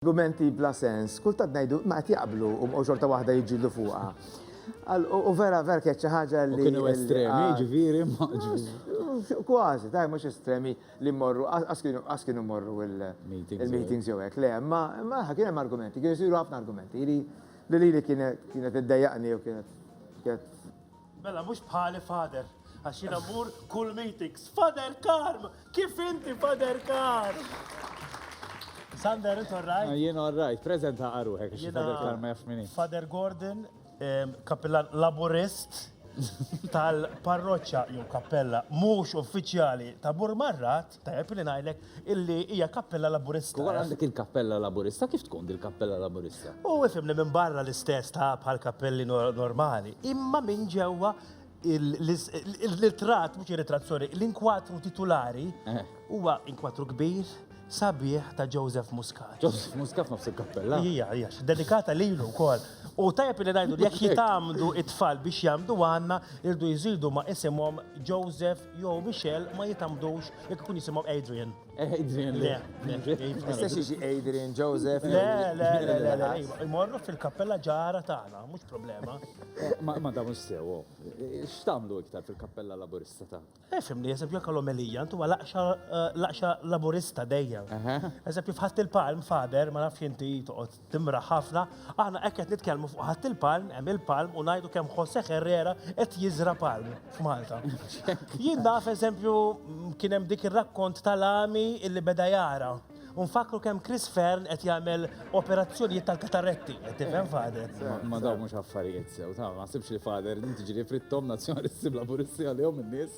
L-gumenti bla sens, kultant ngħidu ma qed jaqblu u bqgħu xorta waħda jiġġieldu fuqha. U vera vera kienet xi ħaġa li. Kienu estremi, jiġifieri ma. Kważi, daj mhux estremi li mmorru, qas kienu mmorru il-meetings jew hekk, le, imma kien hemm argumenti, kienu jsiru ħafna argumenti li lili kienet iddejjaqni jew kienet Mela mhux bħali Father, għax jiena mmur kull meetings. Father Karm, kif inti Father Karm? Sander, inti orrajt? Ah, jien orrajt, prezenta għaruħek, għax Father Karm ma jafx minni. Father Gordon, kapillan laburist tal-parroċċa jew kappella mhux uffiċjali ta' Burmarrat, Tajjeb li ngħidlek illi hija kappella Laburista. Kif għandek il-kappella Laburista, kif tkun dil-kappella Laburista? U ifhimni minn barra l-istess ta' bħal kappelli normali, imma minn ġewwa l-ritratt, mhux ir-ritratt, sorry, l-inkwatru titulari eh. huwa inkwatru kbir sabiħ ta' Joseph Muscat. Joseph Muscat nofs il-kappella. Ija, ija, dedikata lilu wkoll. U tajab li ngħidu jekk jitamdu it-tfal biex jagħmdu għandna irdu jżidu ma' isimhom Joseph Joe Michel ma jitambdux jekk ikun jisimgħu Adrian. Eh, Adrian, le. Mistax jiġi Adrian, Joseph. Le, le, le, le, le. Imorru fil-kappella ġara tagħna, mhux problema. Eh, ma da mhux sew, oh. eh, x'tagħmlu iktar fil-kappella laburista ta'? Efhem li eżempju jekk l-omelija intu laqxa laburista dejjem. Eżempju fħadd il-palm fader ma nafx inti toqgħod Timraħ ħafna, aħna hekk qed nitkellmu fuq ħadd il-palm, hemm il-palm u ngħidu kemm Jose Herrera qed jiżra' palm f'Malta. Jien naf eżempju kien hemm dik ir-rakkont tal-għami illi beda jara. U nfakkru kemm Chris Fearne qed jagħmel operazzjonijiet tal-kataretti, qed tifhem Father? Ma dawn mhux affarijiet sew, ta' ma sibx li Father inti ġieli frittom Nazzjonalisti bla Pulizija għalihom in-nies.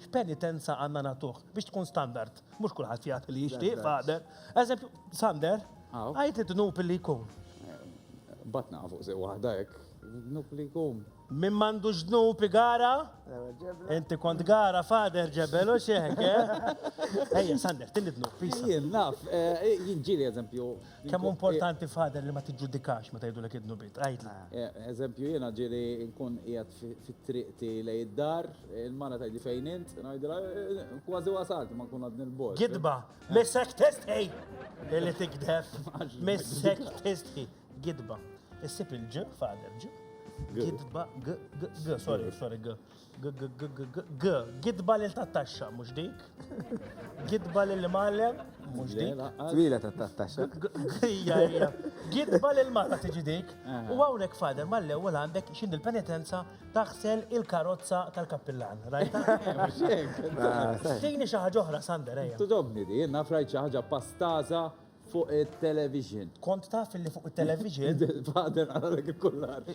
X'penitenza għandna nagħtuh biex tkun standard? Mhux kulħadd jagħti li jixtieq, Father. Eżempju, Sander, għid id-dnub li jkun. Batna fuq sew waħda hekk, id-dnub li jkun. Min m'għandux dnub igara? Inti kont gara, Father, ġebel u x'hekk, eh? Ejja, Sander, tieni dnub, pisa. Jien naf, jiġieli eżempju, Kemm importanti fader li ma tiġġudikax meta jgħidulek id-dnubiet, għidli. Eżempju jiena ġieli nkun qiegħed fit-triqti lejn id-dar, il-mara tgħidli fejn int, ngħidilha kważi wasalt imma nkun għadni l-bogħod. Gidba, missek tistħi! Li tigdeb, missek tistħi. Gidba. Issib il-g, fader, g. Gidba, g, g, g, sorry, sorry, g. G-g-g-g-g-g, gidba lil tat-taxxa, mhux dik. Gidba lil mallem, mhux dik. Twila tat-taxxa. Hija, hija. Gidba lil mara tiġi dik. U hawnhekk fader mal-ewwel għandek x'in il-penitenza taħsel il-karozza tal-kappillan. Rajta? Tini xi ħaġa oħra, Sander, ejja. Tidobni di, naf rajt xi ħaġa pastaża Fuq it-television. Kont taf li fuq it-television. Fader għalalek il-kullar.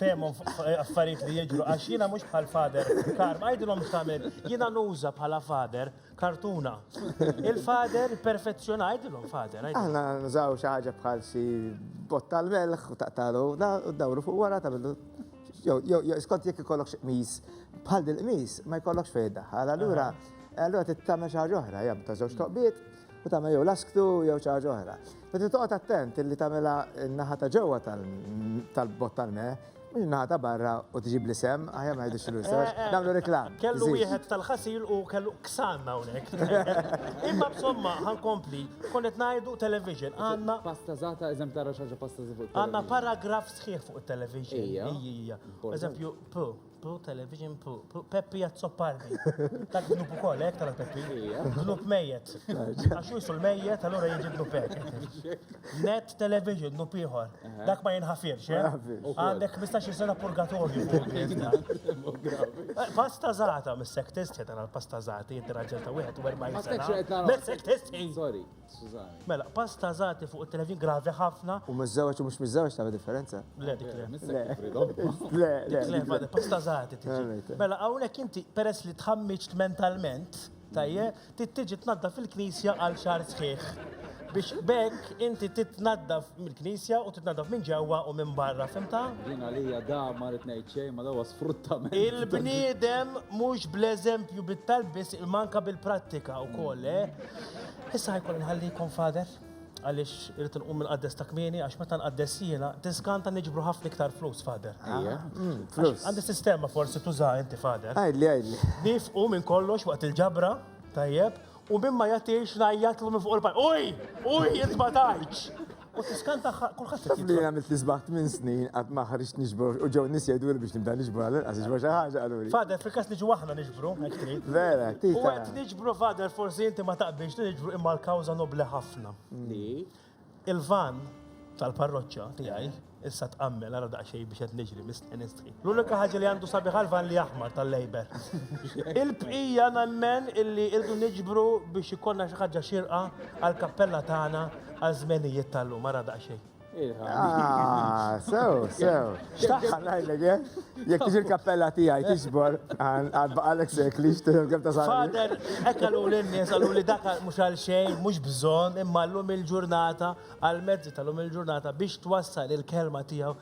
Fehmhom affarijiet li jiġru għax jiena mhux bħal fader. Kar, ma jgħidilhom x'tagħmel. Jiena nuża bħala fader kartuna. Il-fader perfezzjona jgħidilhom fader. Aħna nużaw xi ħaġa bħal xi botta l-melħ u taqtalu u dawru fuq wara tagħmlu jew skont jekk ikollok xi qmis bħal dil-qmis ma jkollokx fejn daħħal. Allura allura tittamel xi ħaġa oħra, jgħam ta' żewġ toqbiet u tagħmel jew lasktu jew xi ħaġa oħra. Meta toqgħod attent li tagħmilha n-naħa ta' ġewwa tal-bott tal-me, mhux naħa ta' barra u tġib li sem, aħjar ma jidhirx l-usa, eh, nagħmlu reklam. Kellu wieħed tal-ħasil u kellu ksan hawnhekk. Imma b'somma ħankompli, konnet ngħidu television, għandna pasta żata eżemplara xi ħaġa pasta żifu. Għandna paragraf sħiħ fuq it-television. Ija. Eżempju, Pro Television Pro. Peppi Azzopardi. Tak dnub u koll, ek tala Peppi. Dnub mejet. Għaxu jisul mejet, allora jieġi dnub ek. Net Television, dnub iħor. Dak ma jenħafirx, eh? Għandek 15 sena purgatorju. Pasta zata, mis-sektist, ċetana, pasta zati, jinti raġel ta' 41 sena. Mis-sektist, sorry. Skużani. Mela, pass ta' żgħati fuq it-televin gravi ħafna. U miż-żewġ u mhux miż-żewġ tagħmel differenza? Le, dik le. Le, le. Le, ma pass ta' żgħati tiġi. Mela, hawnhekk inti peress li tħammiġt mentalment, tajje, tittiġi tnaddaf il-knisja għal xahar sħiħ. Biex bekk inti titnaddaf mill-knisja u titnaddaf minn ġewwa u minn barra, fimta? Din għalija da ma rrid ngħid xejn ma dawa sfruttament. Il-bniedem mhux bl-eżempju bit-talb biss il-manka bil-prattika wkoll, eh? Issa ħajkolli nħallikom Father għaliex irid inqum mill-qaddes ta' kmieni għax meta nqaddes jiena tiżganta niġbru ħafna iktar flus Father. Ejja. Mm, flus. Għandi sistema forsi tuża inti Father. Għidli għidli. Nifqu minn kollox waqt il-ġabra, tajjeb, u minn ma jagħtix ngħajjatlu minn fuq il-pajp. Uj! Uj, int ma tajtx! U tiskan tagħha kulħadd qed Tabli għamil tisbaħt minn snin qatt ma ħriġt niġbor u ġew nies jgħidu li biex nibda niġbor għal inqas iġbor xi ħaġa qalu li. Fader fil-każ niġu aħna niġbru, hekk trid. Vera, U tita. qed niġbru fader forsi inti ma taqbilx li niġbru imma l-kawża nobli ħafna. Li il-van tal-parroċċa tiegħi issa tqammel ara daqsxejn biex qed niġri mistħi nistħi. L-unika ħaġa li għandu sabiħa l-van li aħmar tal-Labour. Il-bqija nemmen illi irdu niġbru biex ikonna xi ħaġa xirqa għal kappella tagħna għal żmenijiet tal-lum ara daqsxejn. Ah, sew, sew. Xtaħħa ngħidlek eh? Jekk tiġi l-kappella tiegħi tiġbor għal baqalek sekli xtieħu kemm ta' Fader, hekk qalu lin-nies qalu li dak mhux għal xejn, mhux bżonn, imma llum il-ġurnata għal mezzi tal-lum il-ġurnata biex twassal il-kelma tiegħu